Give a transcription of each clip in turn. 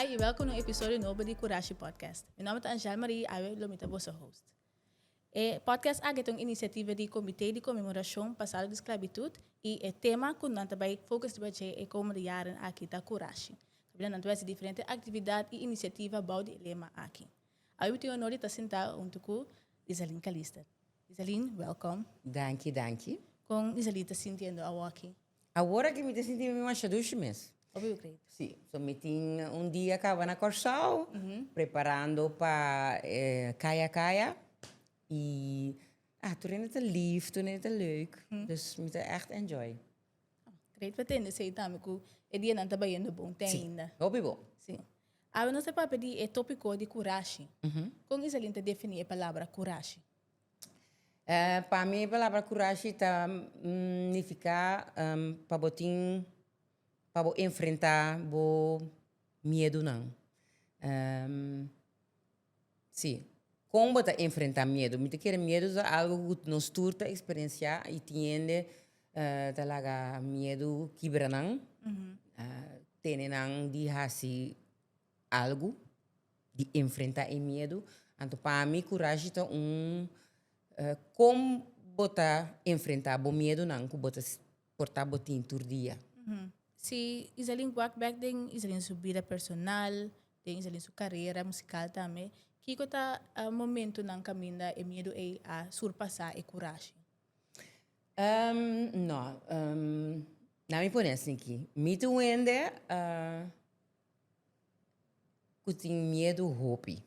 Hi i welkom na un episodio nobo di Kurashi Podcast. Mi nòmber ta Angèle Marie i awe lo mi ta boso host. E podcast aki ta un inisiativa di Komité di Konmemorashon pa Salo di Sklabitut i e tema ku nan ta bai fokus riba dje e komende yaren aki ta Kurashi. Nan ta bai hasi diferente aktividat i inisiativa bou di e lema aki. Awe mi tin honor di ta sentá huntu ku Isaline Calister. Isaline, welkom. Danki, danki. Kon Isaline ta sintiendo awo aki? Awor aki mi ta sinti mi masha dushi mes. Hopi bo kreditu. Sí. So mi tin un dia kaba na Kòrsou preparando pa e Kaya Kaya i tur hende ta lif, tur hende ta leuk. Dus mi ta ègt enjoy. Great pa tende sei tambe ku e dianan ta bayendo bon te sí. ainda. Hopi bon. Sí. Awe nos ta papia di e topiko di kurashi. Mm -hmm. Kon Iselin ta defini e palabra kurashi? Uh, pa mi e palabra kurashi ta mm, nifiká um, pa bo tin, pa bo enfrentá bo miedunan. Um, Sí. Kon bo ta enfrentá miedu? Mi ta kere miedu ta algu ku nos tur ta eksperensiá i tin hende ta laga miedu kibra nan, tene nan di hasi algu, di enfrentá e miedu. Anto pa mi kurashi ta un kon bo ta enfrentá bo miedunan ku bo ta. portá botin tur dia. Si Iselin wak bek den Iselin su bida personal, den Iselin su karera musikal tambe, kiko ta e momentunan kaminda e miedu ei a surpasá e kurashi? No. Laga mi pone asin aki. Mi ta un hende ku tin miedu hopi.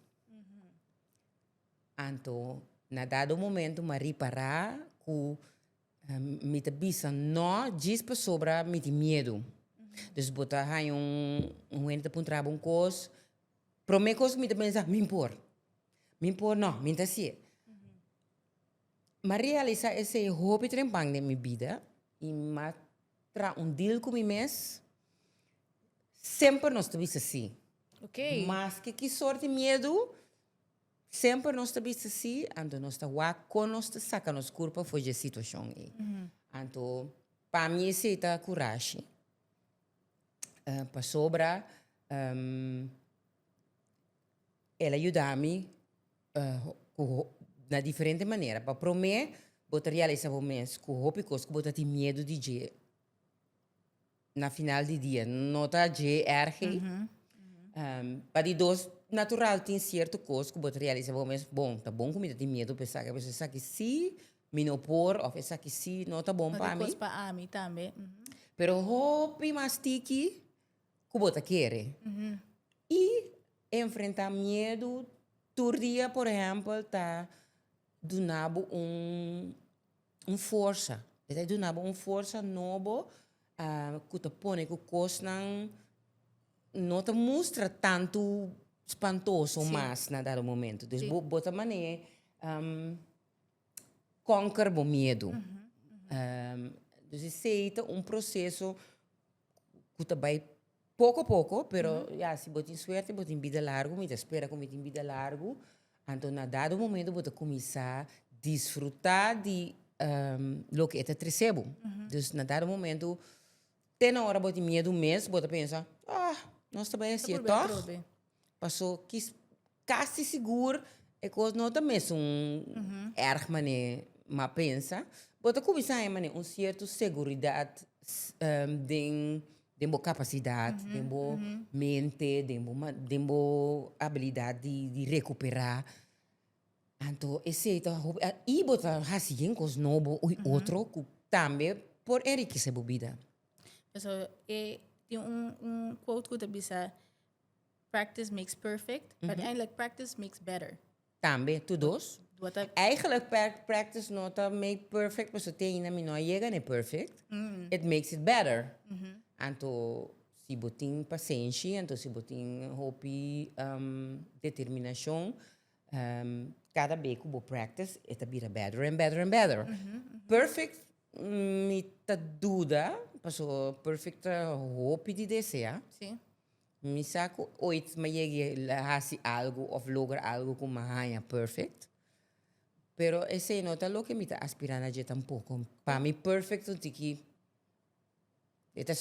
Anto na dado momento mi a ripará ku. Mi ta bisa no djis pasobra mi tin miedu. Dus bo ta haña un hende ta puntra bo un kos, prome kos ku mi ta pensa, mi por, mi por no, mi no ta hasi'e. M'a realisá esei hopi trempan den mi bida i m'a traha un deal ku mi mes, semper nos ta bisa sí, maske ki sort di miedu. Semper nos ta bisti si, anto nos ta wak kon nos ta saka nos kurpa for dje situashon ei. Anto, pa mi esei ta kurashi. Pasobra el a yuda mi ku na diferente manera. Pa promé, bo ta realisá bo mes ku hopi kos ku bo ta tin miedu di dje. na final di dia no ta dje erg ei. Pa di dos natural tin cierto cos cu bo ta realisa bo mes, bon, ta bon cu mi ta tin miedo pa esaki, pues esaki si mi no por of esaki si no ta bon pa mi. No ta cos pa ami tambe. Pero hopi mas tiki cu bo ta kere. Y enfrenta miedo tur dia, por ehempel, ta duna bo un. un forsa, e ta duna bo un forsa nobo ku ta pone ku kosnan no ta mustra tantu spantoso mas na dado momento. Dus bo ta manera kònker bo miedu. Dus esei ta un proseso ku ta bai. Poko poko, pero ya si bo tin suerte bo tin bida largu, mi ta spera ku mi tin bida largu, anto na dado momento bo ta kuminsá disfrutá di loke e ta tresé bo. Dus na dado momento, te na ora bo tin miedu mes, bo ta pensa, ah, nos ta bai hasi e tòg, paso kis Casi sigur e cos no ta mesun erg manera m'a pensa. Bo ta cuminsa haya manera un cierto seguridad den bo capacidad, den bo mente, den bo habilidad di recupera. Anto esey ta hopi. Y bo ta haci yen cos nobo y otro cu tambe por enriquece bo bida. Pasobra tin un quote cu ta bisa. Practice makes perfect, but eigenlijk practice makes better. Tambe, tu dos. Eigenlijk perk practice no ta make perfect pasobra te ainda mi no a yega n'e perfect. It makes it better. Anto si bo tin pasenshi, anto si bo tin hopi determinashon, kada be ku bo practice e ta bira better and better and better. Perfect mi ta duda, pasobra perfect ta hopi di deseá. Mi sa cu ooit m'a yeg'e a haci algo of logra algo cu m'a haña perfect. Pero esey no ta loke mi ta aspira na dje tampoco. Pa mi perfect un tin ki, e ta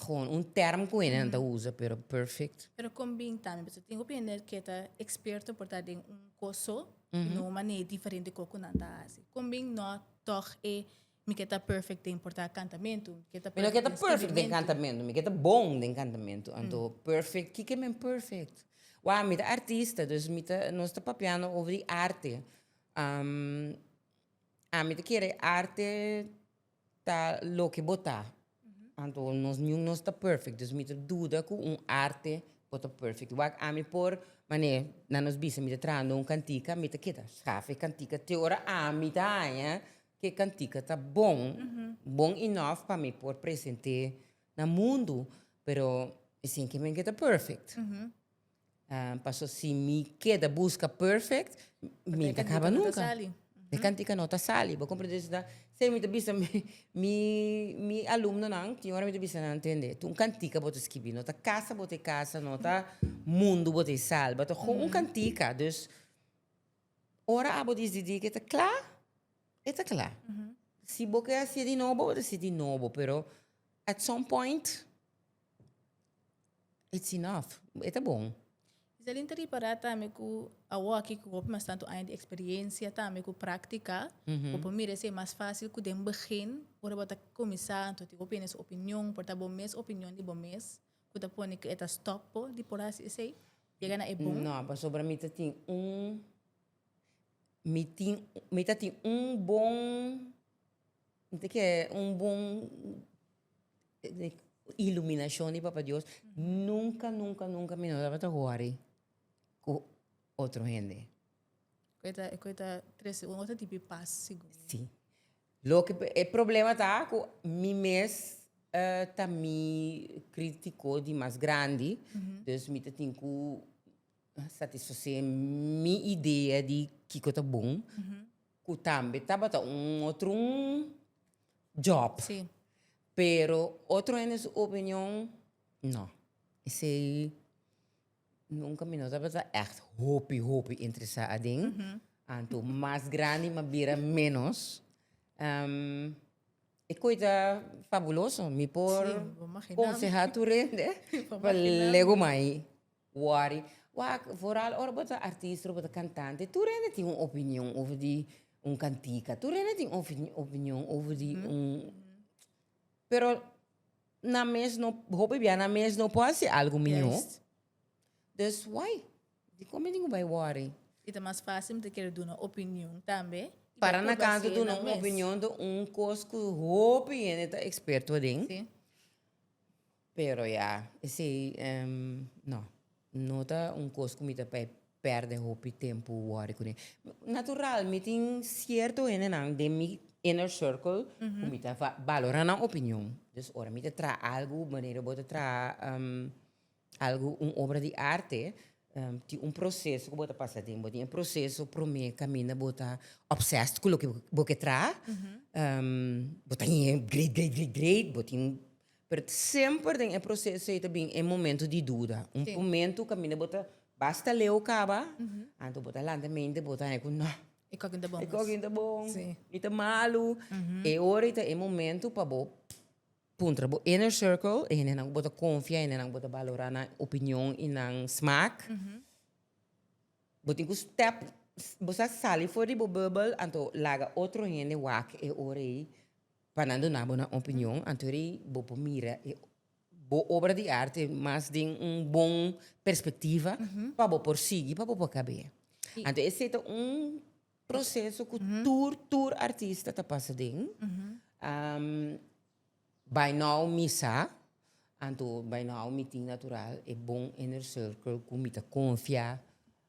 gewoon un term cu hendenan ta usa, pero perfect. Pero con bin tambe? Pasobra tin hopi hende ke ta experto por ta den un cos so, y no un manera diferente cu nan ta haci. Con bin no tog e Mi ke ta perfect den porta cantamentu. Mi no ke ta perfect den cantamentu, mi ke ta bon den cantamentu. Anto perfect, kiko men perfect? Wou, mi ta artista, dus mi ta, nos ta papiando over di arte. Ami ta kere arte ta loke bo ta. Anto nos niun nos ta perfect, dus mi ta duda ku un arte por ta perfect. Wak ami por, mane na nos bisa mi ta traha den un kantika, mi ta keda, schafe kantika te ora ami ta haña. Ke kantika ta bon, bon enough pa mi por present'é na mundu, pero e sin ke mi keda perfect. Paso si mi keda buska perfect, mi ta kaba nunka. E kantika no ta sali, bo komprende? Esei ta esei mi ta bisa mi mi alumnonan, tin ora mi ta bisa nan atende, un kantika bo ta skibi, no ta kasa bo ta e kasa, no ta mundu bo ta e salba, ta gon un kantika. Dus, Ora abo disidí ku e ta kla, e ta kla. Si bo ke hasié di nobo, bo ta hasié di nobo, pero at some point, it's enough, e ta bon. Iselin ta ripará tambe ku awor aki ku hopi mas tantu aña di eksperiencia tambe ku práktika, bo por mira esei mas fásil ku den begin, ora bo ta kuminsá, anto tin hopi hende su opinion, por ta bo mes opinion di bo mes. cu ta pone cu e ta stop bo di por haci esey? Yega na e bon? No, pasobra mi ta tin un, mi tin, mi ta tin un bon, nta ke un bon iluminacion di Papa Dios, nunca, nunca, nunca mi no tabata worry cu otro hende. Cu e ta, cu e ta trece un otro tipo de paz, segun mi. Sí. Loke pe- e problema ta cu mi mes eh, ta mi critico di mas grandi, dus mi ta tin cu satisface mi idea di kico ta bon, cu tambe tabata un otro job. Sí. Pero otro hende su opinion, no. Esey. Nunka mi no tabata èkt hopi hopi interesá aden. Anto mas grandi mi a bira ménos. E koe ta fabuloso. Mi por konsehá tur hende pa lego mai wòri. Wak foral ora bo ta artista, ora bo ta kantante, tur hende tin un opinion over di un kantika. Tur hende tin opinion over di un. Pero. na mes no hopi bia na mes no por haci algo mijo yes. dus why di come di bay worry y ta mas facil te quiere duna opinion tambe para na canso duna un opinion de un cos cu hopi hende ta experto aden sí. pero ya esey um no. No ta un kos ku mi ta bai pèrdè hopi tempu wòri kuné. Natural, mi tin sierto hendenan den mi inner circle ku mi ta valorá nan opinion. Dus ora mi ta traha algu, manera bo ta traha algu, un obra di arte, tin un proseso ku bo ta pasa den. Bo tin e proseso promé kaminda bo ta obsessed ku loke bo ke traha. Bo ta great, great, great, great. Pero semper den e proceso ey ta bin e momento di duda. Un Sí. momento caminda bo ta basta leo caba, anto bo ta lanta mente bo ta hay cu no, E kokin ta bon. e kokin ta bon, Sí. mi ta malu. E ora ey ta e momento pa bo puntra bo inner circle, e hendenan cu bo ta confia, e hendenan cu bo ta balora nan opinion y nan smaak. Bo tin cu step, bo sa sali for di bo bubble, anto laga otro hende wak e ora ey. Pa nan duna bo nan opinion, anto di bo por mira e bo obra di arte mas den un bon perspectiva pa bo por sigui, pa bo por kab'é. Anto esei ta un proseso ku tur, tur artista ta pasa den. Bai nou mi sa, anto bai nou mi tin natural e bon inner circle ku mi ta konfia.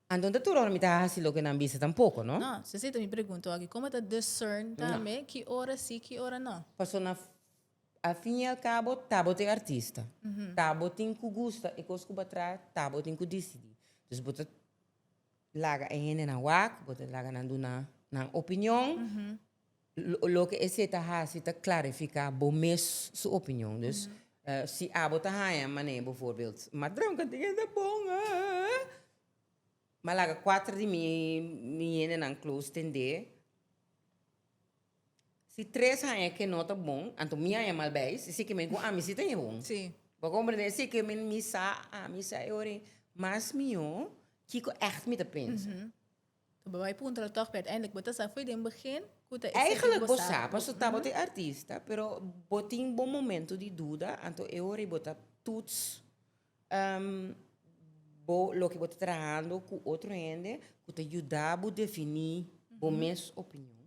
Anto ta tur ora mi ta hasi loke nan bisa tampoko, no? No, so esei ta mi pregunta aki, como ta discern tambe ki ora si ki ora no? Paso na al fin y al cabo ta bo ta e artista, ta bo tin cu gusta e cos cu bo a traha, ta bo tin cu dicidi. Dus bo ta laga e hendenan wak, bo ta laga nan duna nan opinion, Loke esei ta hasi ta klarifiká bo mes su opinion. Dus si abo ta haña manera bivoorbeeld, Madram ka tin ke ta bon, ma laga kuater di mi yendenan close tendé, si tres haña ke no ta bon, anto mi haña mal bai, si esei ke men ku ami si ta ña bon. Bo a komprendé? Esei ke men mi sa, ami sa e hora ei mas mihó kiko ègt mi ta pensa. Bo bai puntra'l tòg, p'e uiteindelijk bo ta sa fo'i den begin ku ta e seki Eigenlijk bo bo sa sa, paso tabata e artista, pero bo tin bo momento di duda, anto e ora ei bo ta tuts ehm bo loke bo ta trahando ku otro hende ku ta yuda bo defini bo mes opinion,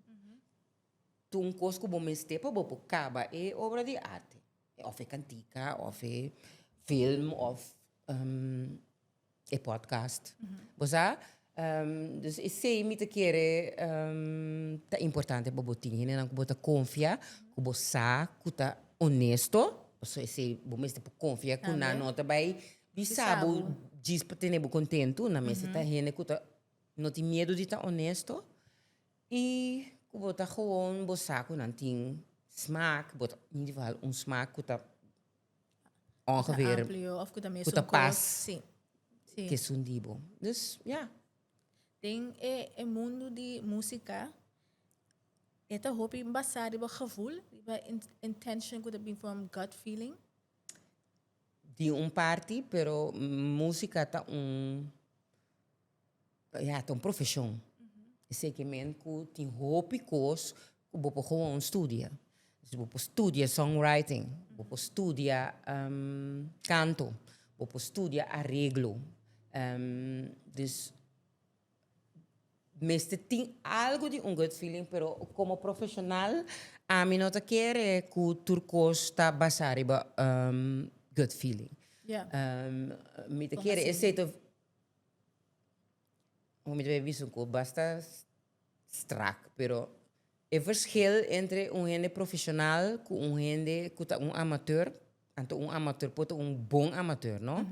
tu un kos ku bo mester pa bo por kaba e obra di arte, òf e kantika, òf e film, òf ehm. e podcast. Bo sa? Dus esei mi ta kere ta importante pa bo tin hendenan ku bo ta konfia, ku bo sa ku ta onesto, pasobra esei bo mester por konfia ku nan no ta bai bisa bo djis pa tene bo kontentu. Nan mester ta hende ku ta no tin miedu di ta onesto i ku bo ta gewoon bo sa ku nan tin smak, bo ta individual un smak ku ta ongeveer ku ta pas ku esun di bo. Dus, ya. Den e mundu di músika, e ta hopi basá riba gevul, riba intention ku ta bin from gut feeling? Di un parti, pero músika ta un. Ya ta un profesion. Eseki men ku tin hopi kos ku bo por gewoon studia. Bo por studia songwriting, bo por studia kanto, bo por studia areglo. Dus, mester tin algu di un gut feeling, pero komo profeshonal, ami no ta kere ku tur kos ta basá riba gut feeling. Mi ta kere e setu. Bo mi ta bay bisa un cu basta strak, pero e verschil entre un hende profesional cu un hende cu ta un amateur, anto un amateur por ta un bon amateur, no?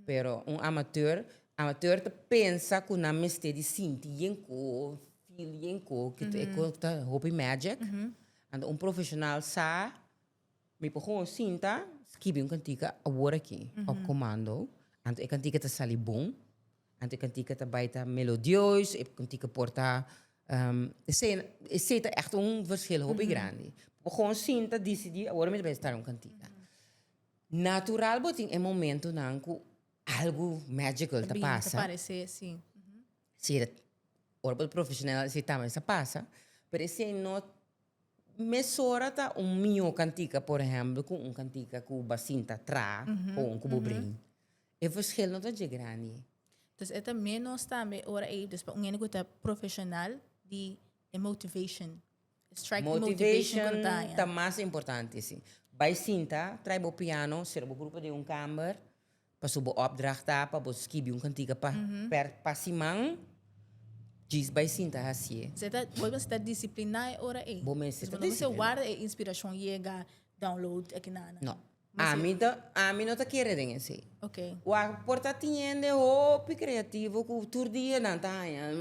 Pero un amateur, amateur ta pensa cu nan mester di sinti yen cos, feel yen cos, cu ta e cos ta hopi magic. Anto un profesional sa. Mi por gewoon sinta, skibi un kantika awor aki, op komando. Anto e kantika ta sali bon. Anto e kantika ta bai ta melodieus, e kantika por ta esei, esei ta ègt un verskil hopi grandi. Mi por gewoon sinta, disidí, awor mi ta bai start un kantika. Natural bo tin e momentunan ku algu magical ta pasa. Ta bin, ta parese, sí. Sí, ora bo ta profeshonel esei tambe sa pasa, pero esei no Mesora ta un mihó kantika, por ehèmpel, ku un kantika ku bo a sinta tra kon ku bo bring. E vershel no ta dje grandi. Entonces e ta ménos tambe ora ei, dus pa un hende ku ta profeshonal di e motivashon, e strike di motivashon ku lo ta haña. Motivashon ta mas importante, sí. Bai sinta, trai bo piano, sera bo grupo den un kàmber. Paso bo opdracht ta pa bo skibi un kantika pa per pa siman, djis bai sinta hasié. Bo mester ta disipliná e ora ei. Bo mester ta disipliná. Bo no mester warda e inspirashon yega, download aki nan nan. No. Ami ta, ami no ta kere den esei. Okay. Ku a por ta teniendo hopi kreativo ku tur dia nan ta haña,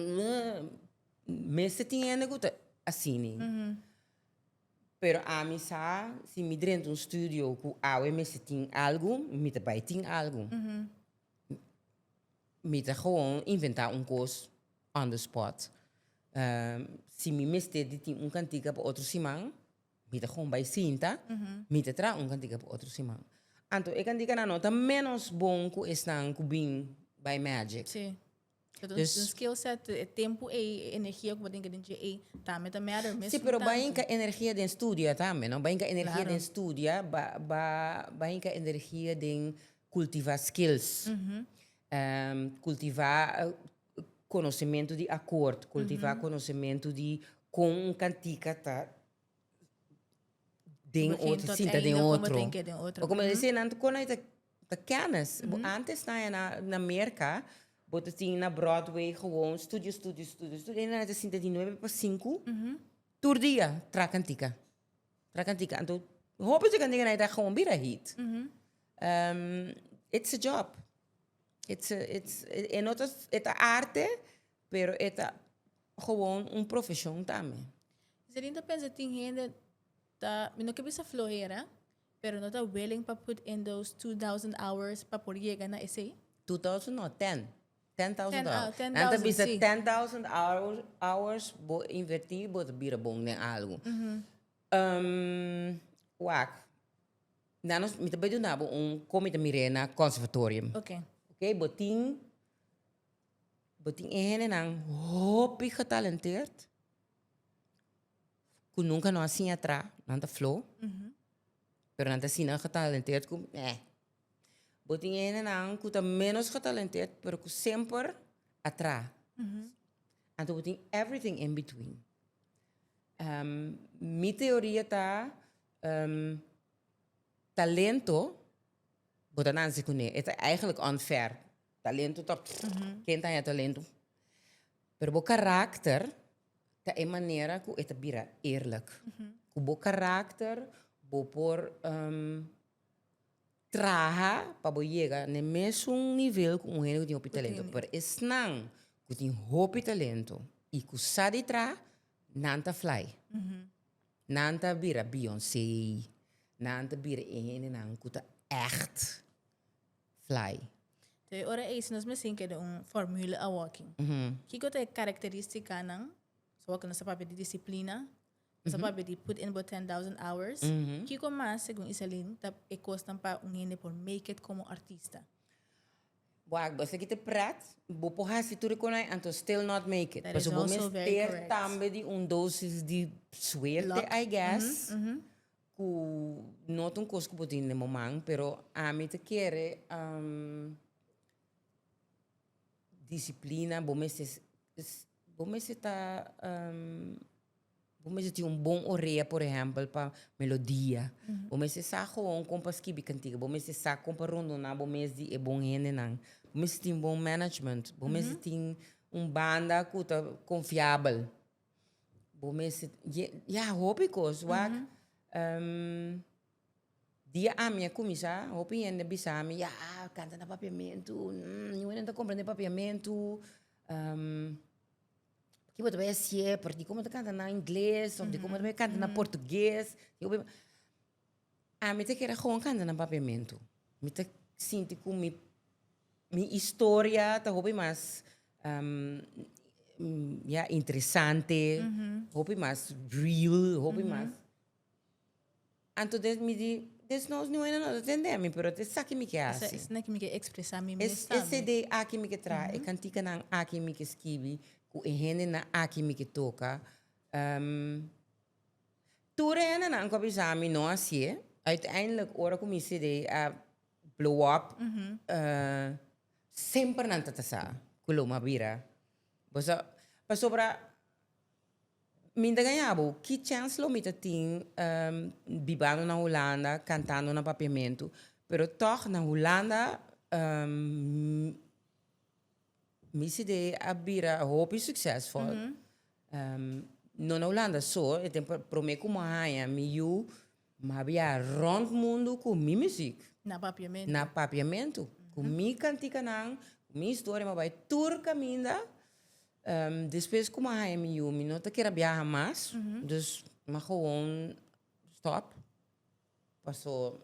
mester teniendo ku ta asini. Pero ami sa si mi drenta un studio ku awe mester tin algu, mi ta bai tin algu. Mi ta gewoon inventá un kos on the spot. Si mi mester di tin un kantika pa otro siman, mi ta gewoon bai sinta, mi ta traha un kantika pa otro siman. Anto e kantikanan no ta ménos bon ku esnan ku bin bai Magic. Sí. Dus un skill set, e tempu ei, e energia ku bo tin den dje ei tambe ta matter mesmu tantu. Sí, pero bai hinka energia den studia tambe, no? Bai hinka energia den studia, bai hinka energia den kultivá skills, kultivá konosementu di akòrt, kultivá konosementu di kon un kantika ta den otro, sinta den otro. Begin tot einde, kon bo ta den otro. Bai ku mi a di esei nan, kon ei ta. Ta kenis. Bo antes na e na Merka, bo ta tin na Broadway gewoon studio, studio, studio, studio. E nan a ta sinta di nuebe pa sinku tur dia tra kantika, tra kantika. Anto hopi di kantika nan e ta gewoon bira hit. It's a job. It's a, it's a, e no ta, e ta arte, pero e ta gewoon un profeshon tambe. Zelin ta pensa tin hende ta, mi no ke bisa flojera, Pero no ta willing pa put in those two thousand hours pa por yega na esey? Two thousand no, ten. Ten thousand hours. Ten, ah, ten thousand, si. Nan ta bisa ten thousand hours, hours bo inverti bo ta bira bon den algu. wak, nan nos, mi ta bai duna bo un kon mi ta mir'é na conservatorium. Ok. Ok, bo tin, bo tin e hendenan hopi getalenteerd. cu nunca no a siña atrás, nan ta flow, pero nan ta asina getalenteerd cu meh. Bo tin hendenan cu ta menos getalenteerd, pero cu semper atrás. Anto bo tin everything in between. Ehm, mi teoria ta, ehm, talento, bo ta nanzi cune, e ta eigenlijk unfair. Talentu ta ken ta haya talentu. Pero bo karakter ta e manera ku e ta bira eerlijk. Ku bo karakter bo por traha pa bo yega na e mesun nivel ku un hende ku tin hopi talentu. Pero esnan ku tin hopi talentu i ku sa di traha, nan ta fly. Nan ta bira Beyoncé, nan ta bira e hendenan ku ta ègt fly. Ta e ora ei si nos mester keda un formule a walking. Kiko ta e karakteristicanan? So walking nos ta papia di disciplina, nos ta papia di put in bo ten thousand hours. Kiko mas segun Isaline ta e cosnan pa un hende por make it como artista? Wak, bo esaki ta pret, bo por haci tur e conai and to still not make it. Pasobra bo mester tambe di un dosis di suerte I guess Ku no ta un kos ku bo tin den bo man, pero ami ta kere disiplina, bo mester bo mester ta bo mester tin un bon orea por ehèmpel pa melodia, bo mester sa hon kon pa skibi kantika, bo mester sa kon pa rondoná bo mes di e bon hendenan, bo mester tin bon management, bo mester tin un banda ku ta konfiabel. Bo mester, ya hopi kos wak. dia ami a kuminsá, hopi hende a bisa mi, ya, kanta na Papiamentu, niun hende no ta komprende Papiamentu, kiba ta bai hasié, pasobra dikon bo ta kanta na ingles, dikon bo ta bai kanta na portugés. Ami ta kere gewoon kanta na papiamentu. Mi ta sinti ku mi mi historia ta hopi mas ya interesante, hopi mas real, hopi mas. Anto des mi di, desnos mi wenda no ta tende mi, pero es esaki mi ke hasi. Esa esaki mi ke ekspresá mi mes tambe. Es esei dei aki mi ke traha, e kantikanan aki mi ke skibi, ku e hendenan aki mi ke toka. Tur hendenan cu a bisa mi no hacié, uiteindelijk ora cu mi CD a blow up, semper nan ta ta sa cu lo mi a bira. Boso, pasobra mi ta gayabo ki chance lo mi ta tin bibando na Hulanda, cantando na Papiamento, pero tog na Hulanda Mi CD a bira hopi succesvol. No na Hulanda so, e tempo prome cu mi haya mi yu, mi a bia rond mundo cu mi muziek. Na papiamento. Na papiamento. Cu mi canticanan, cu mi historia, mi a bay tur caminda. Despues cu mi a haya mi yu, mi no ta kier a biaha mas. Dus mi a gewoon stop. Paso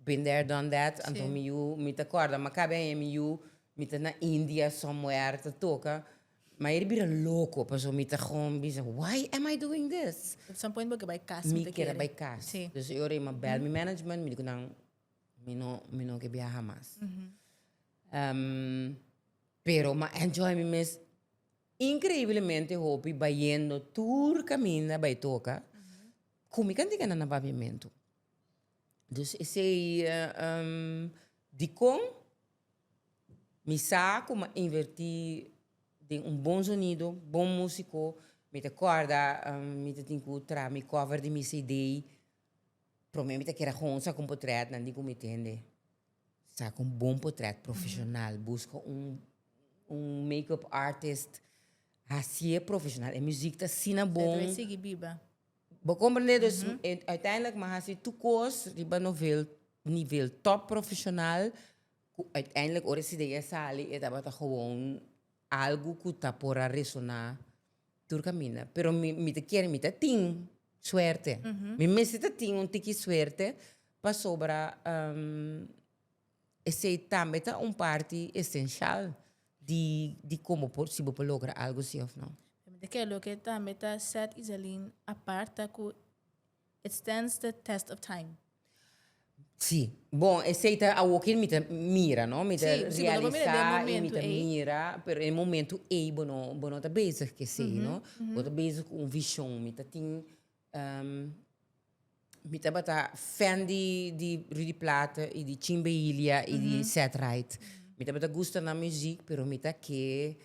been there done that anto mi yu mi ta corda ma cabe aña mi yu mi ta na India somewhere ta toca ma ey bira loco paso mi ta gom bisa why am I doing this At some point bo ke bai cas mi ta kere. Mi kere bai cas. Si. Dus e ora ey mi a bel mi management mi di cu nan mi no mi no ke biaha mas. Pero mi a enjoy mi mes increiblemente hopi bayendo tur caminda bay toca. Ku mi ka tigna na babiamentu. Dus esei dikon mi sa ku m'a invertí den un bon zonido, bon músiko. Mi ta kòrda mi ta tin ku traha mi kòver di mi CD. Promé mi ta kere hon sa ku un potrètnan di ku mi tende. Sa ku un bon potrèt profeshonal, buska un un make-up artist hasié profeshonal. E muzik ta asina bon. Esei ta sigui biba. Bo comprende? Dus uiteindelijk mi a haci tur cos riba novel nivel top profesional cu uiteindelijk ora e cd a sali e tabata gewoon algo cu ta por a resona tur caminda. Pero mi mi ta kier mi ta tin suerte, mi mester ta tin un tiki suerte pasobra Esey tambe ta un parti esencial di di como por si bo por logra algo si of no. Mente ke loke tambe ta set Isaline apart ta ku it stands the test of time. Si, bon esey ta awoken mi ta mira no, mi ta realisa y mi ta mira, pero den e momento ey bo no bo no ta bezig ke esey no, bo ta bezig ku un vision mi ta tin. Mi tabata fan di di Rudy Plaat y di Chin Behilia y di Seth Wright. Mi tabata gusta nan muziek pero mi ta ke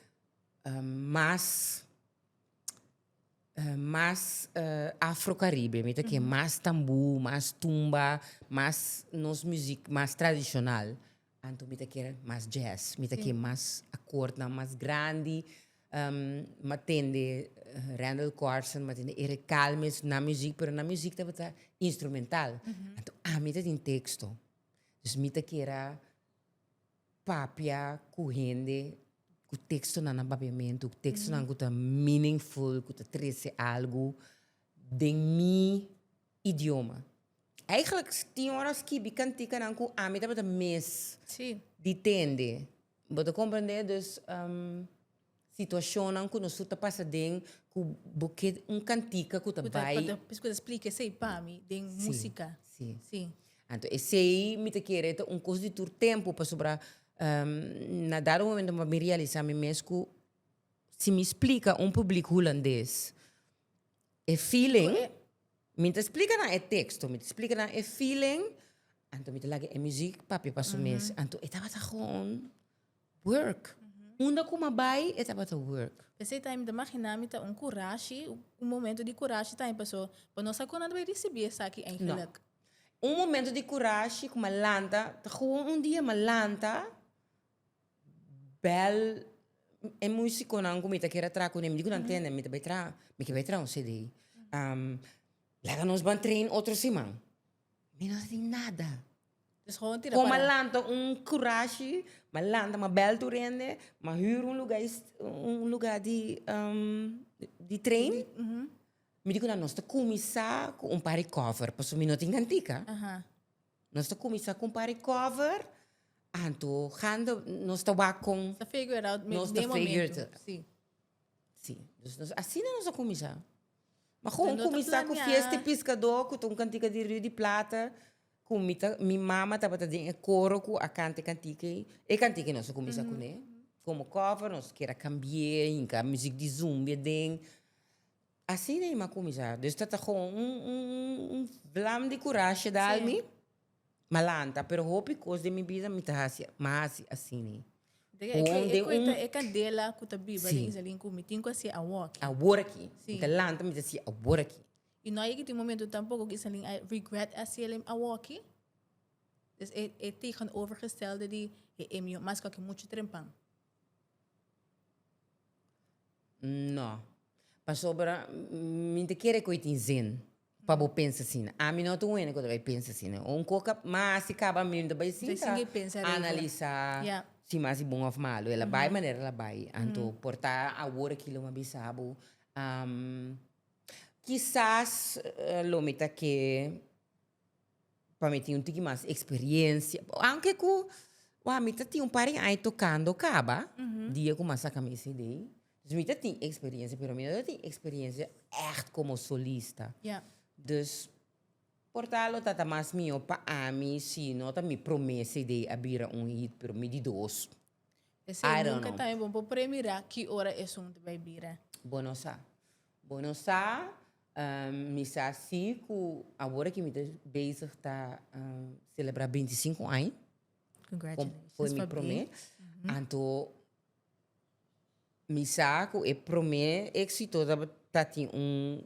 mas mas afro caribe, mi ta ke mas tamboe, mas tumba, mas nos muziek mas tradicional. Anto mi ta kier mas jazz, mi ta kier mas akortnan mas grandi, m'a tende Randall Carson, m'a tende Eric Calmes na muzik, pero nan muzik tabata instrumental, anto ami ta tin teksto, dus mi ta kier a papia ku hende ku tekstonan na papiamentu, ku tekstonan ku ta meaningful, ku ta trese algu den mi. idioma. Eigenlijk tin ora skibi kantikanan ku ami tabata mes di tende. Bo ta komprende? Dus situashonnan ku nos tur ta pasa den ku bo ke un kantika ku ta bai. Ku ta por ejemplo splika esei pa mi den músika. Si, si. Anto esei mi ta kere ta un kos di tur tempu pasobra na dado momento mi a bin realisá mi mes ku si mi splika un públik hulandes. E feeling, mi ta splika nan e teksto, mi ta splika nan e feeling, anto mi ta lag'e e muzik, papia pa su mes. Anto e tabata gewoon work. Unda ku mi a bai, e tabata work. P'esei tambe mi ta maginá mi ta un kurashi, un momento di kurashi tambe paso, bo no sa kon nan ta bai risibí esaki eigenlik. No. Un momento di kurashi ku mi a lanta, ta gewoon un dia mi a lanta. bel e musiconan cu mi ta kere traha cun'e, mi di cu nan tende, mi ta bay traha, mi ta bay traha un cd, laga nos ban train otro siman, mi no tin nada, con m'a lanta un curashi, m'a lanta, m'a bel tur hende, m'a hür un lugar un lugar di di train, mi di cu nan nos ta cuminsa cu un par di cover, pasobra mi no tin cantica. Nos ta kuminsá ku un pare kòver, anto hande nos ta wak kon Nos ta figure it out nos ta figure it out. Sí. Sí, dus nos asina nos a kuminsá. Ma kon Nos ta kuminsá ku planiá. Fiesta di Piskadó ku ta un kantika di Rio di Plata, ku mi ta, mi mama tabata den e koro ku a kanta e kantika ei. E kantika ei nos a kuminsá kuné. Komo kòver nos kier a kambié, a hinka musik di zumbi aden. Asina i ma kuminsá. Dus ta ta kon un, un, un, un vlam di kurashe dal mi, m'a lanta. Pero hopi kos den mi bida mi ta hasi, m'a hasi asina. Kon den un. E kandela ku ta biba den Isalim ku mi, tin ku a siña awor aki. Awor aki. Mi ta lanta, mi ta siña awor aki. I no a yega tin momentu tampoko ku Isalim a regret hasiel awor aki. Dus e tegenovergestelde di e emiyu mas ku aki muchu trempan. N no. Pasobra mi ta kere ku e tin zin pa bo pensa asina. Ami no ta wende ku ta bai pensa asina. Un ku a mas i kaba mi, mi ta bai sinta analisá si mas i bon òf malu. El a bai manera el a bai. Anto por ta awor aki lo mi a bisa bo, kisas lo mi ta ke. pa mi tin un tiki mas experiencia. Aunke cu, wak, mi ta tin un par di aña tocando caba, dia cu mi a saca mi e cd. Dus mi ta tin experiencia, pero mi no ta tin experiencia echt como solista. Dus, por ta lo ta ta mas mihó pa ami si no ta mi promé cd a bira un hit, pero mi di dos. I don't know. P'esei nunca ta e bon pa premirá ki ora esun ta bai bira. Bo no sa. Bo no sa, mi sa si cu awor aki mi ta bezig ta celebra binti sinku aña. Congratulations for me. Por prome. Anto mi sa cu e prome exito tabatin un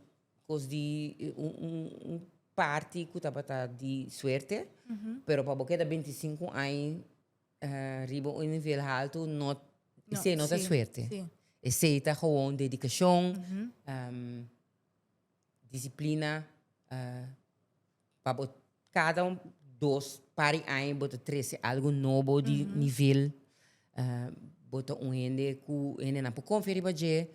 cos di, un party cu tabata di suerte. Pero pa bo keda binti sinku aña. Riba un nivel haltu no, esei no ta suerte. Esei ta gewoon dedicashon, disiplina, pa bo kada dos par di aña bo ta trese algu nobo di nivel, bo ta un hende ku hendenan por konfia riba dje.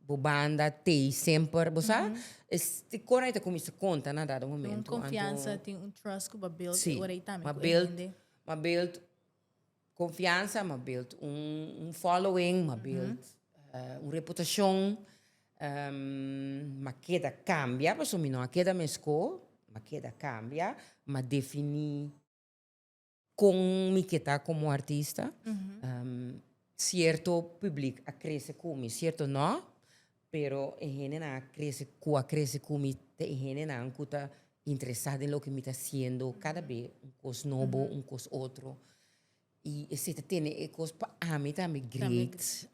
Bo banda tei semper, bo sa, e kor ei ta kuminsa konta na dado momento. Tin un konfiansa, tin un trust ku bo build e ora ei tambe ku e hende. Si, ma build konfiansa, ma build un following, ma build un reputashon, ma keda kambia, pasobra mi no a keda mes ko, ma keda kambia, ma defini. Con mi ke ta como artista? Cierto publiek a crece cu mi, cierto no, pero e hendenan a crece cu a crece cu mi ta e hendenan cu ta interesa den loke mi ta haciendo cada bes un cos nobo, un cos otro. Y esei ta tene e cos pa ami tambe great.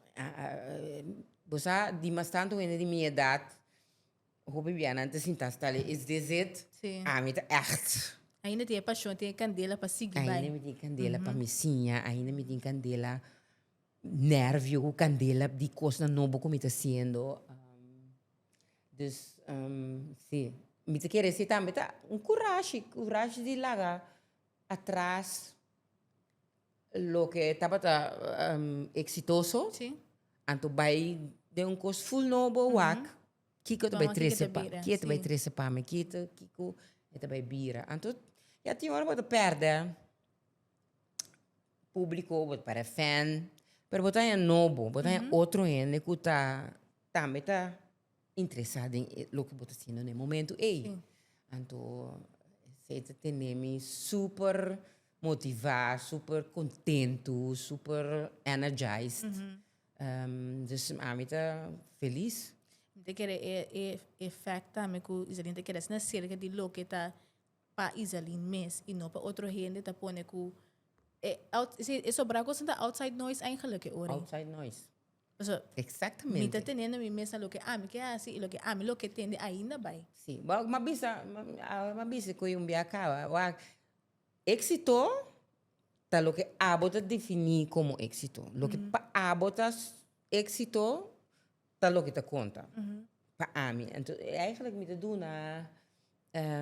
Bo sa, dimas tanto hende di mi edad. Hopi bianan ta sinta hasta le is DZ. Sí. Ami ta echt. Ainda tin e pashon, tin e kandela pa sigui bai. Ainda mi tin kandela pa mi siña, ainda mi tin kandela, nervio ku kandela di kosnan nobo ku mi ta hasiendo. Dus, si. Mi ta kere si tambe ta un kurashi, kurashi di laga atras. Loke tabata exitoso, anto bai den un cos full nobo, wak, kiko ta bai trece pa mi, kiko ta bai trece pa mi, kiko ta bai bira. Anto ya tin ora bo ta perde publico, bo ta perde fan, pero bo ta haña nobo, bo ta haña otro hende cu ta tambe ta interesa den loke bo ta haciendo den e momento ey. Anto esey ta tene mi super. motivá, súper kontentu, súper energized. Dus ami ta felis. Mi ta kere e e effect tambe ku Izalin ta kere asina serka di loke ta pa Izalin mes i no pa otro hende ta pone ku e out si e sobra kos nan ta outside noise eigenlik e ora ei. Outside noise. Paso Exactamente. mi ta tenendo mi mes na loke ami ke hasi i loke ami lo ke tende ainda bai. Sí. Bo m'a bisa, m'a bisa ku un biaha kaba. Éxito ta loke abo ta definí komo éxito. Loke pa abo ta éxito ta loke ta konta pa ami. Enton e eigenlijk mi ta duna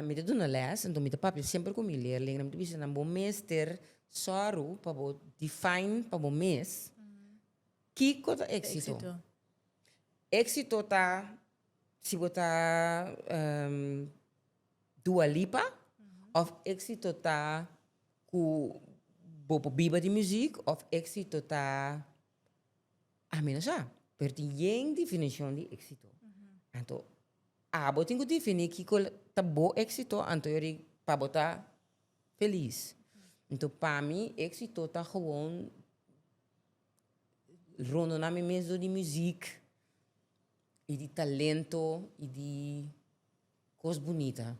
mi ta duna lès, enton mi ta papia semper ku mi leerlinnan, mi ta bisa nan bo mester sòru pa bo define pa bo mes kiko ta éxito. Éxito ta si bo ta. Dua Lipa of exito ta cu bo por biba di muziek of exito ta a mi no sa pero tin yen definicion di exito anto abo tin cu defini kico ta bo exito anto yo di pa bo ta feliz anto pa mi exito ta gewoon rondo na mi mes dor di muziek y di talento y di. Cos bunita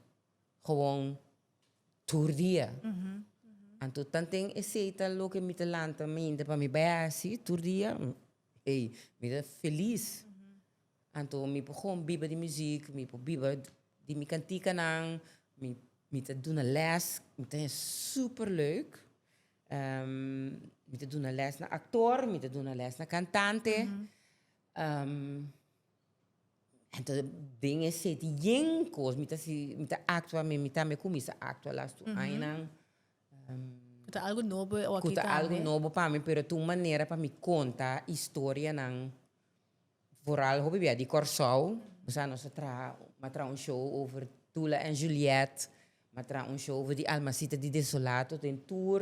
gewoon tur dia. Anto tan ten esey ta loke mi ta lanta mente pa mi bay haci tur dia? Ey, mi ta feliz. Anto mi por gewoon biba di muziek, mi por biba di mi cantikanan, mi mi ta duna les, mi ta haya super leuk. mi ta duna les na actor, mi ta duna les na cantante. Entonces den e sete yen cos mi ta si mi ta actua mi mi tambe cuminsa actua las tu aña nan cu ta algo nobo e oki tambe cu ta algo nobo pa mi pero ta un manera pa mi conta historia nan vooral hopi bia di Kòrsou mi sa nos a traha mi a traha un show over Tula en Juliet mi a traha un show over di Almasita di Desolato den tur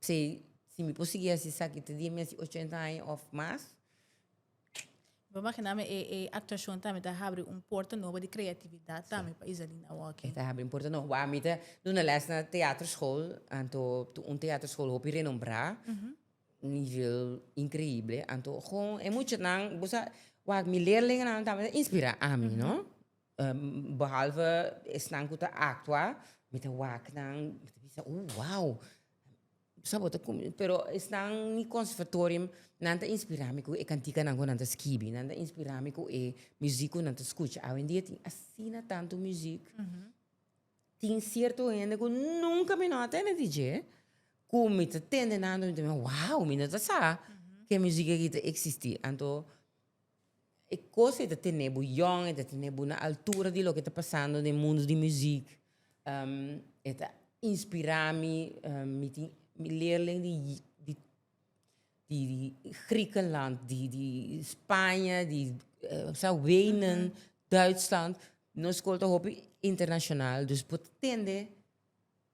P'esei, si mi por sigui hasi esaki te dia mi hasi ochenta aña òf mas. Mi por imaginá mi e e aktuashon tambe ta habri un porta nobo di kreatividat tambe pa Izalina Walking. E ta habri un porta nobo. Bo a mi ta duna lès na teaterskol, anto ta un teaterskol hopi renombrá, nivel inkreible. Anto kon e muchanan, bo sa, wak mi leerlinganan tambe ta inspirá ami, no? Behalve esnan cu ta actua, mi ta wak nan, mi ta bisa, oh, wao! Sa bo ta cuminda? Pero esnan, mi conservatorium, nan ta inspira mi cu e canticanan cu nan ta skibi, nan ta inspira mi cu e muziek cu nan ta scucha. Awendia tin asina tantu muziek, tin cierto hende cu nunca mi no a tende di dje, cu mi ta tende nan dor mi ta bisa, wao! Mi no ta sa ke muziek aki ta existi. Anto. E cos ei ta tene bo yòn, ei ta tene bo na altura di loke ta pasando den mundo di muziek. e ta inspira mi, mi tin leerlei di di di Griekenland, di di Spaña, di sa Wenen, Duitsland, nos scol ta hopi internacional, dus bo ta tende.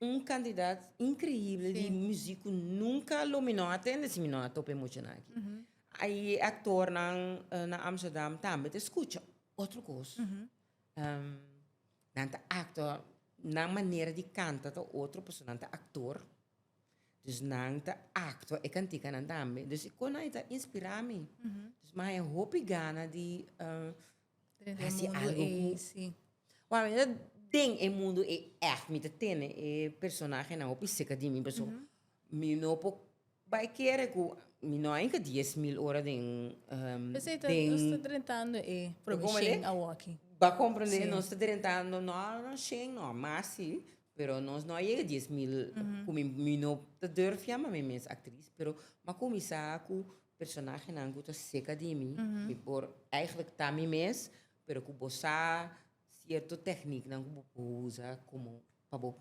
Un candidat increíble di muziek cu nunca lo mi no a tende si mi no a tope mucha nan aki. Ayi e actornan na Amsterdam tambe ta scucha otro cos. Nan ta actor, nan manera di canta ta otro pasobra nan ta actor. Dus nan ta actua e canticanan tambe. Dus e cos nan a inspira mi. Mas a hopi gana di. Den e Hasi mundo algo ei, ku- sí. Wak mi ta den e mundu ei èf mi ta tene e personahenan hopi serka di mi pasobra mi no por bai kere ku mi no a hinka dies mil ora den P'esei ta, nos ta drentando e provishen awòkí. Ba komprende? Sí. Nos ta drentando no a shen, no a mas sí, pero nos no a yega dies mil ku mi mi no ta durf yama mi mes aktris pero mi a kuminsá ku Personahenan ku ta serka di mi, mi por eigentlik ta mi mes, pero ku bo sa sierto tekniknan ku bo por usa komo pa bo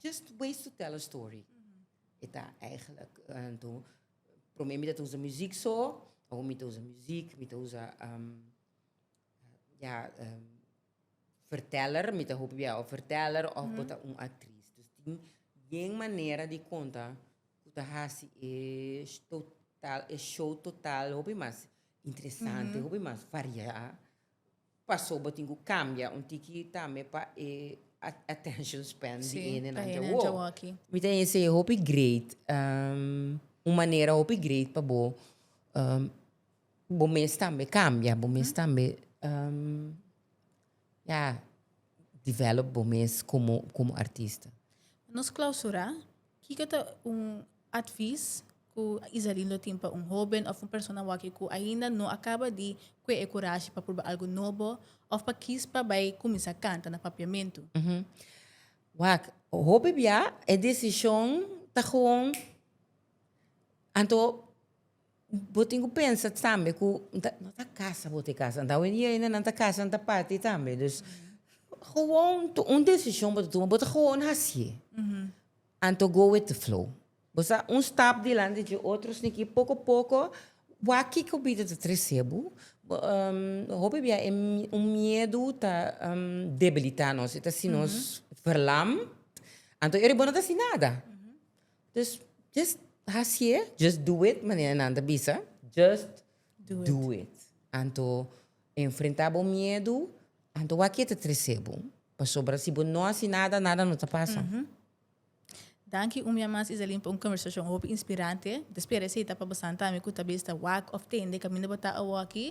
just ways to tell a story. E ta eigentlik anto promé mi ta usa muzik so, awo mi ta usa muzik, mi ta usa ya. verteller, mi ta hopi bia of verteller of bo ta un actriz. Dus tin bien manera di conta cu ta haci e total, e show total hopi mas interesante, hopi mas varia, paso bo tin cu cambia un tiki tambe pa e attention span di hende nan djawoa. Mi ta yensei e hopi great, un manera hopi great pa bo. Bo mes tambe cambia, bo mes tambe ya develop bo mes como, como artista. Nos clausura, kico ta un advis cu Isarin lo tin pa un hoben of un persona waki cu ainda no a caba di cue e curashi pa proba algo nobo of pa kies pa bay cuminsa canta na Papiamentu? Wak, hopi bia e decision ta gewoon anto. Bo tin ku pensa tambe ku no ta kasa bo te kasa, anto awe dia ina nan ta kasa nan ta parti tambe, dus gewoon un desishon bo ta tuma bo ta gewoon hasié, anto go with the flow, bo sa un stap dilanti dje otro sniki poko poko wak kiko bida ta tresé bo, hopi bia e un miedu ta debilitá nos, e ta hasi nos verlam, anto ere bo no ta hasi nada, Dus just hasié, just do it manera nan ta bisa, just do, do it. it. Anto enfrentá bo miedu, anto wak e ta tresé bo. Pasobra si bo no hasi nada, nada no ta pasa. Mm -hmm. Danki un bia mas Iselin pa un conversacion hopi inspirante. Ta spera esei ta pa bo santami cu ta bes ta wak of tende caminda bo ta awoki.